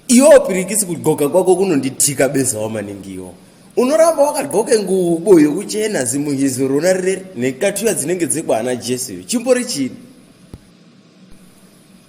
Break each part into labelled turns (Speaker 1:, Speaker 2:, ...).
Speaker 1: iwo pirikisi kudxoka kwako kunonditika bezawo maningi iwo unoramba wakadxoke ngubo yokuchena zimuhizo rona rire nekatuya dzinenge dzekwaana jesu iyo chimbori chini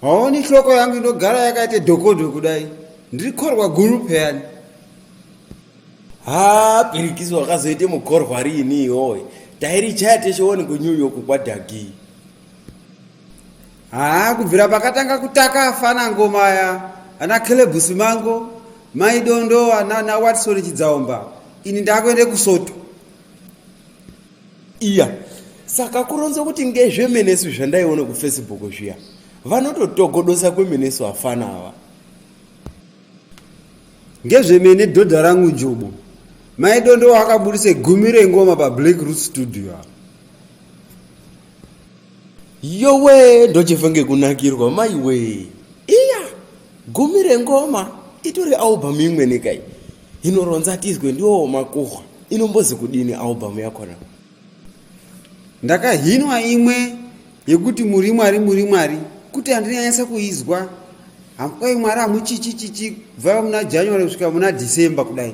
Speaker 1: haoni hloko yangu inogara yakaita dhokodho kudai ndiri khorwa guru pheyani haa pirikisi wakazoite mukhorwa riini iwoye tairichaya teshe woni kunew york kwadhagii haa kubvira pakatanga kutaka afana ngoma aya ana caleb simango mai dondowa nana watson chidzaomba ini ndakuende kusoto iya saka kuronza kuti ngezvemenesu zvandaiona kufacebook zviya vanototogodosa kwemenesu afana ava ngezvemene dhodha rangu njubu mai dondowa akaburitse gumi rengoma pablack root studio apa yowe ndochifa ngekunakirwa maiwe iya gumi rengoma itori album imwe nekai inoronza tizwe ndiwo makuhwa inombozi kudini album yakona ndakahinwa imwe yekuti muri mwari muri mwari kuti handinanyasa kuizwa hamkwai mwari hamuchichichichi kubva muna january kusvika muna december kudai